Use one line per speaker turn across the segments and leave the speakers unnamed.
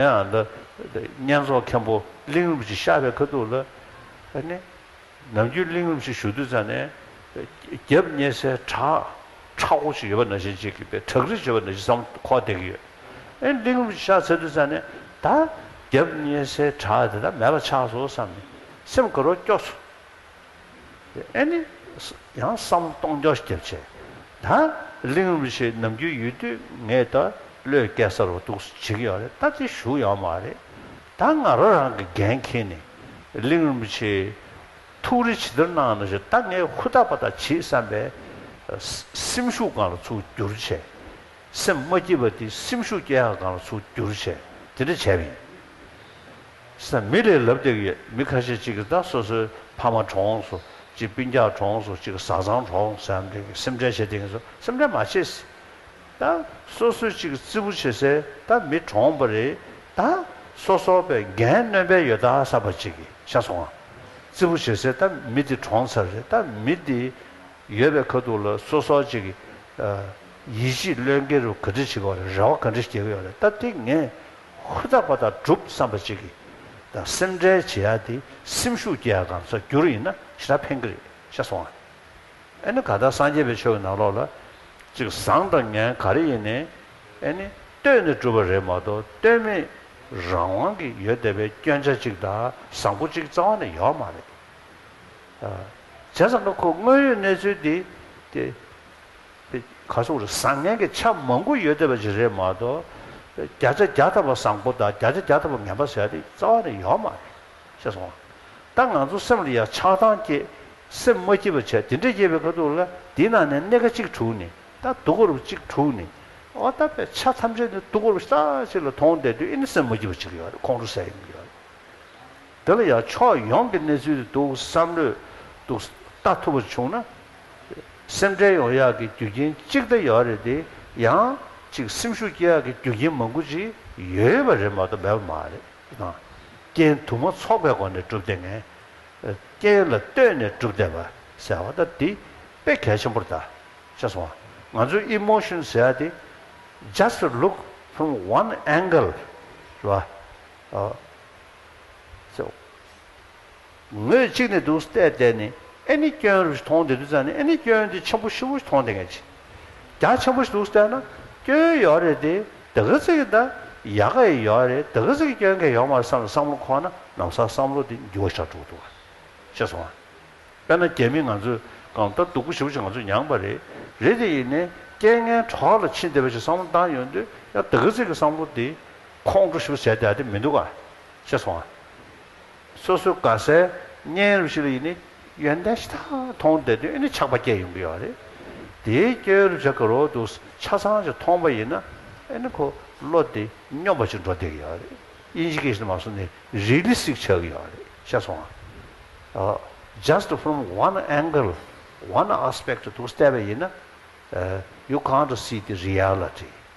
ཡང་ལ། བསྙེན་རྫོགས་མཁན་པོ་གླིང་རུམ་ཞིག་ཤར་བའི་ཁ་ཐུག་ལ། ནི། ནམ་རྒྱུན་གླིང་རུམ་ཞིག་བཞུགས་དུས་ཚང་ནས། རྒྱབ་བསྙེས་སའི་བྲག་ཁྲ་བོ་ཞིག་ཡོད་པ་ན་གཞན་གཅིག་གིས་པའི་བྲག་རི་ཞེས་པ་ན་གཞི་བསམ་ཁོག་བསྡད་ཀྱི་ཡོད། ཨེ། གླིང་རུམ་ཞིག་ཤར་ཚར་དུས་ཚང་ནས། ད། རྒྱབ་བསྙེས་སའི་བྲག་དེ་དག་མེད་པ་ཆགས་སོ་བསམ་ནས། སེམས་དགའ་རོགས་སྐྱོ། ཨེ་ནི། ཡང་བསམ་སྟོང་རྒྱ་སྐྱེད་བྱས། ད་གླིང་རུ་ཆེན་ནམ་རྒྱུན་ཡོད་དུས་ངས་ད་བློས་སྐད་གསར་བ་འདུག་སུ་བྱེད་ཀྱི་ཡོད་རེད་ད་དེ་ཞུ་ཡག་མ་རེད། ད་ང་རང་རང་གི་འགན་འཁྱེར་ནས་གླིང་རུ་ཆེའི་ཐུགས་རེ་ཇི་ལྟར་གནང་ན་ཞེས་ད་ངས་ཧུར་ཐག་པ་དག་བྱེད་བསམ་པའི་སེམས་ཤུགས་གང་ལ་ཚུགས་རྒྱུར་བྱས། སེམས་མ་སྐྱིད་པ་དེ་སེམས་ཤུགས་སྐྱེད་ཡག་གང་ལ་ཚུགས་རྒྱུར་བྱས་དེ་འདྲ་བྱས་པ་ཡིན། ས་མི་ལས་ལབ་བསྡད་ཡོད་མི་ཁ་ཤས་ཅིག་གིས་ད་སོ་སོའི་ཕ་མ་གྲོངས་སོ་ཅིག་སྤུན་རྒྱག་གྲོངས་སོ་ཅིག་བཟའ་ཚང་གྲོངས་ཟེར་ནམ་རེ་གི་སེམས་ཁྲལ་བྱེད་བསྡད་ཡིན་སོ་སེམས་ཁྲལ་མ་བྱེད། ད་སོ་སོས་ཅིག་བརྩི་བུ་བྱེད་སའི་ད་མི་གྲོངས་པ་རེད་ད་སོ་སོ་པའི་འགན་གནོན་པའི་ཡོད་ད་ས་པ་ཅིག་གི་ཤ་ཚོང་བརྩི་བུ་བྱེད་སའི་ད་མི་འདི་གྲོངས་ཚར་རེད་ད་མི་འདི་ཡོད་པའི་ཁ་ཐུག་ལ་སོ་སོ་ཅིག་གིས་ཡིད་ཆེས་བློས་འགེལ་རུ་ག་འདྲི་བྱེད་གི་ཡོད་རེད་རེ་བ་ག་འདྲི་བསྐྱེད་གི་ཡོད་རེད་ད་དེ་ངས། ཧུར་ཐག་པ་དང་སྒྲུབ་བསམ་པ་གཅིག་གིས་དང་སེམས་ཁྲལ་བྱེད་ཡ་དེ་སེམས་ཤུགས་སྐྱེ་ཡ་གམ་སོགས་འགྱུར་ཡིན་ན་ཞེ་དྲག་ཕན་གི་རེད་ཤ་སོང་ང་ཨེ་ནི་གང་ལྟར་སངས་རྒྱས་པའི་ཆོས་ཀྱི་ནང་ལོགས་ལ་གཅིག་བཟང་དང་ངན་ག་རེ་ཡིན་ནི་ཨེ་ནི་ལྟོས་ནས་སྒྲུབ་པ་རེད་མ་གཏོགས་ལྟོས་མེད་རང་དབང་གི་ཡོད་བསྡད་པའི་སྐྱོན་ཆ་གཅིག་དང་བཟང་པོ་གཅིག་རྩ་བ་ནས་ཡོད་མ་རེད་བྱས་ཙང་ཁོ་དངོས་ཡོད་གནས་ཚུལ་དེ་དེ། པའི་གར་སོང་རེད་བཟང་ངན་གྱི་ཆ་མང་པོ་ཡོད་བསྡད་པ་ཞིག་རེད་མ་གཏོགས། བརྒྱ་ཆ་བརྒྱ་ཐ་བ་བཟང་པོ་དང་བརྒྱ་ཆ་བརྒྱ་ཐ་བ་ངན་པ་ཟེར་བ་དེ་རྩ་བ་ནས་ཡོད་མ་རེད། ཤེས་སོང་ངམ། ད་ང་ཚོ་སེམས་ལ་ཡང་ཆགས་སྡང་སྐྱེས། སེམས་མ་སྐྱིད་པ་བྱས་དེ་འདྲས་སྐྱེས་པའི་ཁ་ཐུག་ལ་དེའི་ནང་ནས་སྣེ་ཁ་གཅིག་དྲུག་ནི་ད་དུག་ཁོར་བུ་གཅིག་དྲུག་ནི། འོ་ད་པའི་ཆ་ཐམས་ཅད་ནི་དུག་ཁོར་བུ་ཤྟག་ཅིག་ལ་མཐོང་བསྡད་དུས་ཨེ་ནི་སེམས་མ་སྐྱིད་པ་ཅིག་ཡོད་རེད་ཁོང་ཁྲོ་ཟེར་ཡི་མི་ཡོད་རེད། དེ་ལ་ཡང་ཕྱོགས་ཡོངས་ཀྱི་གནས་ཚུལ་འདུག་བསམ་བློས་འདུག་ལྟ་ཐུབ་པ་བྱུང་ན། སེམས་ཁྲལ་ཡོང་ཡག་གི་རྒྱུ་རྐྱེན་གཅིག་དེ་ཡོད་རེད་དེ། ཡང་གཅིག་སེམས་ཤུགས་སྐྱེ་ཡག་གི་རྒྱུ་རྐྱེན་མང་པོ་ཅིག་ཡོད་པ་རེད་མ་གཏོགས་མེད་པ་མ་རེད། རྐྱེན་དུ་མ་ཚོགས་པའི་སྒོ་ནས་སྒྲུབ་བདེ་ངེས། རྐྱེན་ལ་ལྟོས་ནས་སྒྲུབ་བདེ་བ་ཟེར་བ་ད་དེ་དཔེ་གལ་ཆེན་པོར་བལྟ། ཤེས་སོང་ང་ཚོས emotion ཟེར་ཡ་དེ། just look from one angle། རེད་བ། ཟེར། ངོས་གཅིག་ནས་འདུག་སྟེ་བལྟས་ནས་ཨེ་ནི་སྐྱོན་རུ་ཞིག་མཐོང་དེ་འདུག་ཙང་ནི་ཨེ་ནི་སྐྱོན་དེ་ཆེན་པོ་ཧྲིལ་བོ་ཞིག་མཐོང་དེ་ངས་ཅི་རྒྱ་ཆེན་པོ་ཞིག་འདུག་བལྟས་ན་སྐྱོན་ཡོད་རེད་དེ་དེ་ག་ཚོད་ཀྱི་འདའ་ཡ་ག་ཡི་ཡོད་རེད་དེ་ག་ཚོད་ཀྱི་སྐྱོན་ག་ཡོད་མ་རེད་བསམ་ལ་བསམ་བློ་འཁོར་ན་ནམ་སང་བསམ་བློ་དེ་འགྱུར་བ་ཆགས་འགྲོ་གི་འདུག་ཤེས་སོང་ང། དཔེར་ན་རྒྱ་མི་ང་ཚོས་གང་ལྟར་སྡུག་པོ་ཧྲིལ་བོ་ཞིག་ང་ཚོས་མྱངས་པ་རེད་རེད་དེ་ཡིན་ནས་རྐྱེན་ངན་གྲོགས་ལ་ཕྱིན་བསྡད་པ་ཞིག་བསམ་བློ་འདང་ཡོད་འདོད་ཡ་དེ་ག་ཚོད་ཀྱི་བསམ་བློ་དེ་ཁོང་ཁྲོ་ཞུ་ཟེར་དེ་མི་འདུག་ཨ། ཅེས་སོང་ཨ། སོ་སོའི་དགའ་སའི་བརྙན་རིས་ཤིག་ལ་ཡིན་ནི་ཡོན་ཏན་ཤ་སྟག་མཐོང་བསྡད་དོན་ནི་ཆགས་པ་སྐྱེས་ཡོང་གི་ཡོད་རེད། དེའི་སྐྱོན་རུ་བྱ་གི་རོ་འདུག་ཆ་ཚང་ཞིག་མཐོང་པ་ཡིན་ན་ཨེ་ནི་ཁོ་བློ་དེ་སྙོམས་པ་ཞིག་འགྲོ་བསྡད་གི་ཡོད་རེད། དབྱིན་ཇི་གི་ཞིག་ལ་མ་སོང་ནི་རི་ལི་སིག་ཆགས་གི་ཡོད་རེད་ཤེས་སོང་ཨ། Just from one angle one aspect དུ་བལྟས་པ་ཡིན་ན། ཡུ་གང་དུ་སྲིད་དེ་རི་ཡར་ལ་བྲིས།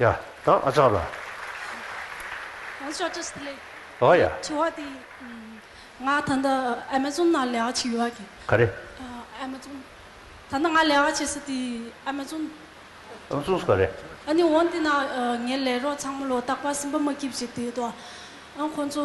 ཡ། དང་ཨ་ཅག་ལ། ཨོ་ཅག་ཅི་ཞིག་ལས། ཨོ་ཡ། དྲི་བ་དེ། ང་
ད་ལྟ་ཨ་མ་ཛོན་ན་ལས་ཀ་བྱེད་ཡོད་ཀྱི། ག་རེ།
ཨ་མ་
ཛོན། ད་ལྟ་ང་ལས་ཀ་བྱེད་སྲིད་དེ་ཨ་མ་ཛོན། ཨ་མ་ཛོན་སུ་ག་
རེ། ཨ་ནི་འོན་
ཏེ་ན་ངའི་ལས་རོགས་ཚང་མ་ལོ་རྟག་པར་སེམས་པ་མ་སྐྱིད་བྱེད་དེ་ཏོ། ཨང་ཁོང་ཚོ།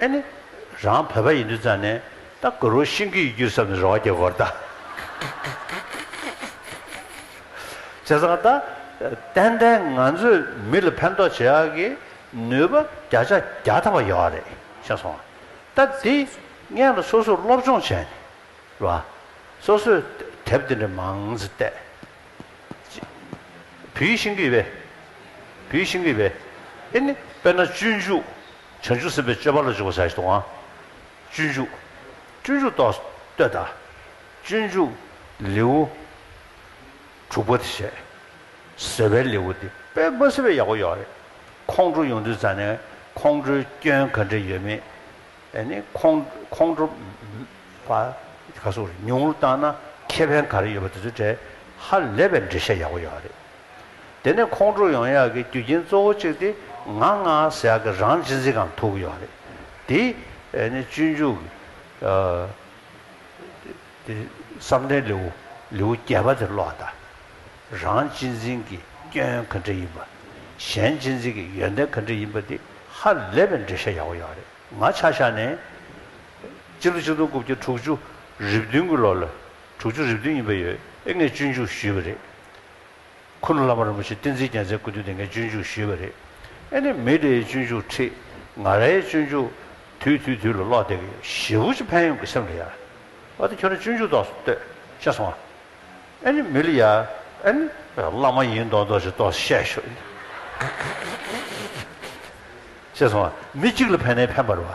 ཨེ་ནི། རང་བོད་པ་ཡིན་དུས་ཙང་ནས་ད་གུ་རུ་ཤིང་གི་ཡུལ་གྱུར་ས་ནས་རོ་བ་གྱེར་གོར་ད། བྱས་ཙང་ད། ཏན་ཏན་ང་ཚོས་མི་ལ་ཕན་ཐོགས་བྱེད་ཡག་གི་ནུས་པ་བརྒྱ་ཆ་བརྒྱ་ཐ་བ་ཡོད་རེད་ཤེས་སོང་ང། ད་འདི་ངས་ལ་སོ་སོས་སློབ་སྦྱོང་བྱས་ནས་ར། སོ་སོས་དེབ་འདི་འདྲ་མང་ཙི་བལྟས། བུའི་ཤིང་གི་བས། བུའི་ཤིང་གི་བས། ཨེ་ནི། དཔེར་ན་སྤྱོད་འཇུག་བྱང་ཆུབ་སེམས་དཔའི་སྤྱོད་པ་ལ་འཇུག་པར་བྱ་ཞེས་དང། སྤྱོད་འཇུག། སྤྱོད་འཇུག་ཏུ་ལྟོས་དང། སྤྱོད་འཇུག། ལེའུ། དྲུག་པ་དེ་བྱས། ཟེར་བའི་ལེའུ་འདི་དཔེ་མ་ཟིན་པའི་ཡག་པོ་ཡོད་རེད། ཁོང་ཁྲོ་ཡོང་དུས་རྩ་ནས་ཁོང་ཁྲོའི་སྐྱོན་ག་འདྲས་ཡོད་མེད་དེ་ནི་ཁོང་ཁོང་ཁྲོ། བ། ག་སོགས་རེད་ཉུང་ངུར་བཏང་ན་ཁེ་ཕན་ག་རེ་ཡོད་པ་དེ་ཚོའི་གྲས་ཧ་ལས་པའི་འགྲེལ་བཤད་ཡག་པོ་ཡོད་རེད། དེ་ནི་ཁོང་ཁྲོ་ཡོང་ཡག་གི་རྒྱུ་རྐྱེན་གཙོ་བོ་གཅིག་སྟེ་ང་ང་ཟེར་ཡག་གི་རང་གཅིག་འཛིན་ཁང་ཐུག་ཡོད་རེད་དེ། ནི་སྤྱོད་འཇུག་གི་བསམ་གཏན་ལེའུ་ལེའུ་བརྒྱད་པ་དེ་ཀློག་ད། རང་གཅིག་འཛིན་གྱི་སྐྱོན་ག་འདྲ་ཡིན་པ། གཞན་གཅིག་འཛིན་གྱི་ཡོན་ཏན་ག་འདྲ་ཡིན་པ་དེ་ཧ་ལས་པའི་འགྲེལ་བཤད་ཡག་པོ་ཡོད་རེད་ང་ཆ་ཤ་ནས། སྤྱི་ལོ་གཅིག་སྟོང་དགུ་བརྒྱ་དྲུག་ཅུ་རེ་བདུན་གྱི་ལོ་ལོ་དྲུག་ཅུ་རེ་བདུན་ཡིན་པ་ཡོད་ཨེ་ངས་སྤྱོད་འཇུག་ཞུས་པ་རེད་ཁུ་ནུ་བླ་མ་རིན་པོ་ཆེ་བསྟན་འཛིན་རྒྱལ་མཚན་སྐུ་མདུན་སྡེ་ལྔའི་སྤྱོད་འཇུག་ཞུས་པ་རེད། ཨེ་ནི་མི་རེའི་སྤྱོད་འཇུག་ཁྲི་ང་རའི་སྤྱོད་འཇུག། དུས་དུས་དུས་ལ་ཀློག་བདེ་གི་ཞེ་བོ་ཅི་ཕན་ཡོང་གི་སེམས་ལ་ཡར། ཨ་ཏི་ཁྱོད་རང་སྤྱོད་འཇུག་ཏོག་ལྟོས་ཤེས་སོང་ཨ། ཨེ་ནི་མི་ལ་ཡར་ཨེ་ནི། བླ་མ་ཡིན་མདོག་མདོག་ཅིག་ཏོག་བཤད་ཤོག་ཨེ་ནི། ཤེས་སོང་ཨ། མི་གཅིག་ལ་ཕན་ནའི་ཕན་པར་བ།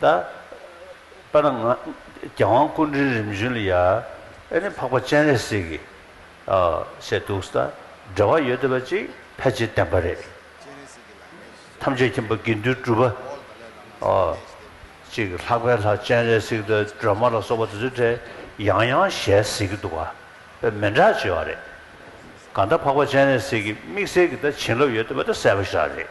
ད་པ་ན་ང་རྒྱལ་དབང་སྐུ་འདྲིའི་རིམ་བྱོན་ལ་ཡ་ཨེ་ནི་འཕགས་པ་སྤྱན་རས་གཟིགས་ཀྱིས་བཤད་འདུག་ད་འབྲེལ་བ་ཡོད་བསྡད་པ་ཅིག་ཕལ་ཆེར་བདེན་པ་རེད། ཐམས་ཅད་མཁྱེན་པ་དགེ་འདུན་གྲུབ་པ་ཅིག་ལྷག་པའི་ལྷ་སྤྱན་རས་གཟིགས་དང་སྒྲོལ་མ་ལ་སོགས་པ་དེ་ཚོའི་གྲས་ཡང་ཡང་ཞལ་གཟིགས་ཀྱི་འདུག་པས་མི་འདྲ་ཅེས་བ་རེད། གང་ད་འཕགས་པ་སྤྱན་རས་གཟིགས་ཀྱིས་དམིགས་བསལ་གྱི་ད་བྱིན་རླབས་ཡོད་བསྡད་པ་ད་གསལ་བོ་ཞག་རེད།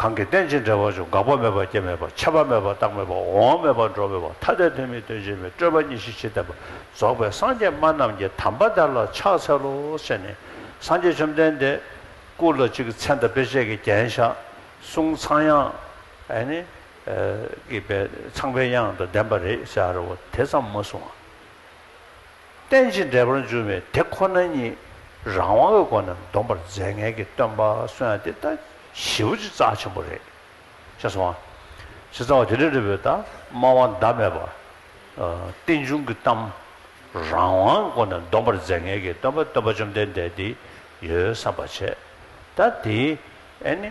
གང་གིས་རྟེན་ཅིང་འབྲེལ་བར་འབྱུང་འགག་པ་མེད་པ་སྐྱེ་མེད་པ་ཁྱབ་པ་མེད་པ་རྟག་མེད་པ་འོང་བ་མེད་པ་འགྲོ་མེད་པ་ཐ་དད་དོན་མེད་དོན་ཅན་མེད་སྤྲོས་པ་གཉིས་ཤེས་ཕྱིར་བསྟན་པ་རྫོགས་པའི་སངས་རྒྱས་སྨྲ་རྣམས་ཀྱི་དམ་པ་དག་ལ་ཕྱག་འཚལ་ལོ་ཞེས་ནས་སངས་རྒྱས་བཅོམ་ལྡན་འདས་སྐུ་ལ་གཅིག་མཚན་དང་དཔེ་བྱད་ཀྱི་རྒྱན་བཞག་གསུང་ཚངས་དབྱངས་ཀྱི་པའི་ཚངས་པའི་དབྱངས་དང་ལྡན་པ་རེ་བཞག་རེ་བ་དེ་ཙམ་མ་གསུང་ངོ། རྟེན་ཅིང་འབྲེལ་པར་འབྱུང་བའི་དེ་ཁོ་ན་ཉིད་རང་དབང་གི་སྒོ་ནས་འདོམས་པར་མཛད་ངེས་ཀྱི་སྟོན་པ་སོན་ཡང་དེ་ལྟ་བྱེད་བུ་ཅི་རྩ་ཆེན་པོ་རེད། ཅེས་སོ། ཇི་ལྟ་བ་དེ་འདྲ་རེད་བུ་དག་སྨྲ་བ་ཟླ་མེད་པ། རྟེན་འབྱུང་གི་གཏམ་རང་དབང་གི་སྒོ་ནས་འདོམས་པར་མཛད་ངེས་ཀྱི་སྟོན་པ་སྟོན་པ་བཅོམ་ལྡན་འདས་དེ་ཡོད་བསམ་པར་བྱས། ད་དེའི་ཨེ་ནི།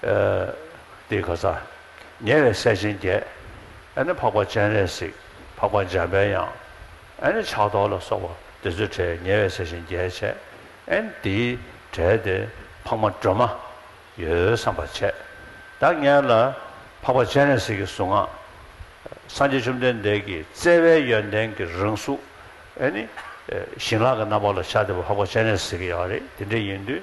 ཏེ་ག་ས། ཉེ་བའི་སྲས་ཆེན་བརྒྱད། ཨ་ནི་འཕགས་པ་སྤྱན་རས་གཟིགས་འཕགས་པ་འཇམ་པའི་དབྱངས། ཨ་ནི་ཕྱག་རྡོར་ལ་སོགས་པ་འདི་ཚོའི་གྲས་ཉེ་བའི་སྲས་ཆེན་བརྒྱད་བྱས། ཨ་ནི་དེའི་གྲས་ཏེ་འཕགས་མ་སྒྲོལ་མ། ཡོལ་བསམ་པ་བྱས། བདག་གཉེར་ལ། འཕགས་པ་སྤྱན་རས་གཟིགས་ཀྱི་གཟུངས་སྔགས། སངས་རྒྱས་བཅོམ་ལྡན་འདས་ཀྱི་བརྩེ་བའི་ཡོན་ཏན་གྱི་རང་གཟུགས། ཨ་ནི། ཞིང་ལག་གི་རྣམ་པ་ལ་ཕྱག་འདེབས་པ་འཕགས་པ་སྤྱན་རས་གཟིགས་ཀྱི་ཡང་རེད་དེ་འདྲ་ཡིན་དུས།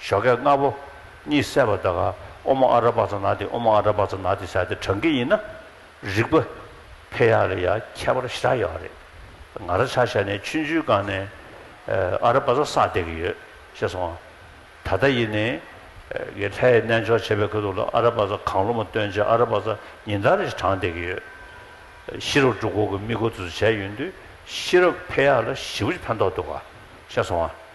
ཞོ་སྐད་ལྔ་པོ། གཉིས་བསྲེས་པ་དག། ཨོ་མོ་ཨ་ར་བ་ཙོ་ན་ཏི་ཨོ་མོ་ཨ་ར་བ་ཙོ་ན་ཏི་བྱ་སྟེ་བགྲང་གི་ཡིན་ན། རིག་པ། ཕེ་ཡ་ལ་ཡ་ཁྱད་པར་ཞི་དྲག་ཡོད་པ་རེད། ང་ར་ཆ་ཤ་ནས་ཆུན་ཆུན་སྒང་ནས། ཨ་ར་བ་ཙོ་སངས་བསྡད་གི་ཡོད། ཤེས་སོང་ང། ད་ལྟ་ཡིན་ནི། གི་ལྷའི་རྣལ་འབྱོར་བྱེད་པའི་ཁུལ་དུ་ལ་ཨ་ར་བ་ཙོ་གང་ལོ་མོ་སྟོན་ཅིག་ཨ་ར་བ་ཙོ་ཉིན་ལྟར་ཞིག་བགྲང་བསྡད་གི་ཡོད། ཤི་རབ་འབྲུག་འཁོར་གི་དམིགས་སྒོ་འཛུལ་བྱས་ཡོད་དུས་ཤི་རབ་ཕེ་ཡ་ལ་ཞི་བུ་ཅིག་ཕན་ཐོག་འདུག་ག། ཤེས་སོང་ང།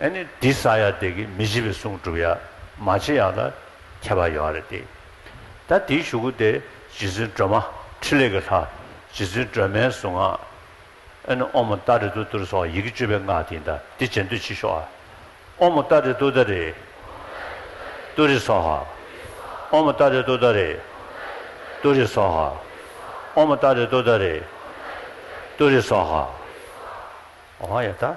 ཨེ་ནི་འདི་ས་ཡ་དེ་གི་མི་བྱེད་པའི་གསུང་སྒྲུབ་ཡ་མ་བྱེད་ཡ་ལ་ཁྱད་པ་ཡོད་རེད་དེ། ད་དེའི་ཞུ་གུ་དེ་རྗེ་བཙུན་སྒྲོལ་མ་ཕྲིན་ལས་ཀྱི་ལྷ་རྗེ་བཙུན་སྒྲོལ་མའི་གཟུངས་སྔགས་ཨེ་ནི་ཨོ་མོ་ཏཱ་རེ་ཏུ་ཏུ་རེ་སོགས་ཡི་གེ་བཅུ་པའི་སྔགས་དེ་འདྲ་དེ་བྱེད་འདོད་མཆིས་ཤོག་ཨ། ཨོ་མོ་ཏཱ་རེ་ཏུ་ཏཱ་རེ་ཏུ་རེ་སོགས་ཧ། ཨོ་མོ་ཏཱ་རེ་ཏུ་ཏཱ་རེ་ཏུ་རེ་སོགས་ཧ། ཨོ་མོ་ཏཱ་རེ་ཏུ་ཏཱ་རེ་ཏུ་རེ་སོགས་ཧ། ཨོ་ཧ་ཡ་ཏཱ།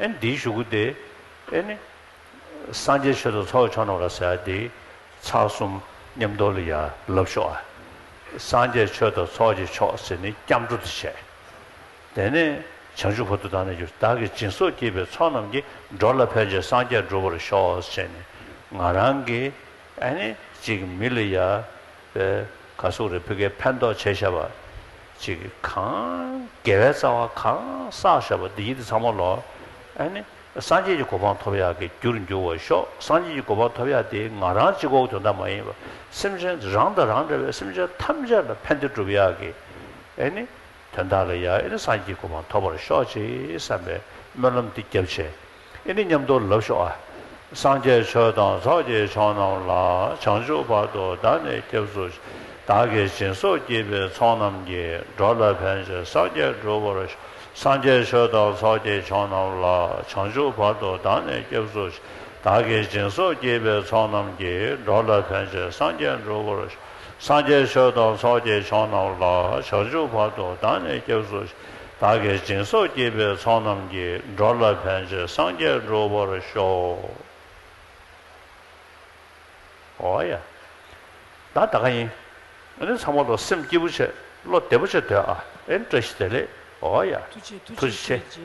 ཨེ་འདིའི་གཞུག་གུ་དེ་ཨེ་ནི། སངས་རྒྱས་ཆོས་དང་ཚོགས་ཀྱི་ཆོ་ནོར་ལ་ཟེར་དེ། ཚགས་གསུམ་སྙེམས་རྟོག་ལ་ཡར་ལབ་ཤོག་ཨ། སངས་རྒྱས་ཆོས་དང་ཚོགས་ཀྱི་མཆོག་ཟེར་ནི་སྐྱབས་འགྲོ་དེ་བྱས། དེ་ནས་བྱང་ཆུབ་བོ་དུ་དང་ནི་གྱུར་བདག་གི་སྦྱིན་སོགས་བགྱིས་པའི་ཚོགས་རྣམས་ཀྱིས་འགྲོ་ལ་ཕན་བྱེད་སངས་རྒྱས་འགྲུབ་པར་ཤོག་ཟེར་ནས་ང་རང་གི་ཨེ་ནི་ཅིག་མི་ལ་ཡར། བའི་གར་སོགས་རེ་ཕུལ་ཁའི་ཕན་འདོགས་བྱས་བྱས་པ། ཅིག་གང། དགེ་བའི་རྩ་བ་གང་བསགས་བཤགས་པ་འདི་ཉིད་དུ་ཚང་མ་ལོ། ཨཱ་ནི། སངས་རྒྱས་ཀྱི་གོ་འཕང་ཐོབ་ཡག་གི་རྒྱུར་འགྱུར་བར་ཤོག་སངས་རྒྱས་ཀྱི་གོ་འཕང་ཐོབ་ཡག་དེ་ང་རང་གཅིག་འོག་དོན་དག་མ་ཡིན་པར་སེམས་ཅན་རང་དང་རང་འདྲ་བའི་སེམས་ཅན་ཐམས་ཅད་ལ་ཕན་བདེ་བསྒྲུབ་ཡག་གི། ཨཱ་ནི། དོན་དག་ལ་ཡ་ཨཱ་ནི་སངས་རྒྱས་ཀྱི་གོ་འཕང་ཐོབ་པར་ཤོག་ཅེས་བསམ་པའི་སྨོན་ལམ་འདི་བརྒྱབ་བྱས། ཨེ་ནི་མཉམ་དུ་ལབ་ཤོག་ཨ། སངས་རྒྱས་ཆོས་དང་ཚོགས་ཀྱི་མཆོག་རྣམས་ལ་བྱང་ཆུབ་བར་དུ་བདག་ནི་སྐྱབས་སུ་མཆི། བདག་གི་སྦྱིན་སོགས་བགྱིས་པའི་ཚོགས་རྣམས་ཀྱིས་འགྲོ་ལ་ཕན་ཅིང་སངས་རྒྱས་འགྲུབ་བར་ཤོག་སངས་རྒྱས་ཆོས་དང་ཚོགས་ཀྱི་མཆོག་རྣམས་ལ་བྱང་ཆུབ་བར་དུ་བདག་ནི་སྐྱབས་སུ་མཆི། བདག་གི་སྦྱིན་སོགས་བགྱིས་པའི་ཚོགས་རྣམས་ཀྱིས་འགྲོ་ལ་ཕན་ཅིང་སངས་རྒྱས་འགྲུབ་བར་ཤོག་སངས་རྒྱས་ཆོས་དང་ཚོགས་ཀྱི་མཆོག་རྣམས་ལ་བྱང་ཆུབ་བར་དུ་བདག་ནི་སྐྱབས་སུ་མཆི། བདག་གི་སྦྱིན་སོགས་བགྱིས་པའི་ཚོགས་རྣམས་ཀྱི་འགྲོ་ལ་ཕན་ཆོད་སངས་རྒྱས་འགྲུབ་པར་ཤོག། འོ་ཡ། ད་ད་ག་ཡིན། ཨ་ནི་ཚང་མ་ལོ་སེམས་སྐྱིད་པོ་བྱེད་བློ་བདེ་པོ་བྱེད་འདོད་ཨ་ཨེ་བཀྲ་ཤིས་བདེ་ལེགས་འོ་ཡ། ཐུགས་རྗེ་ཆེ།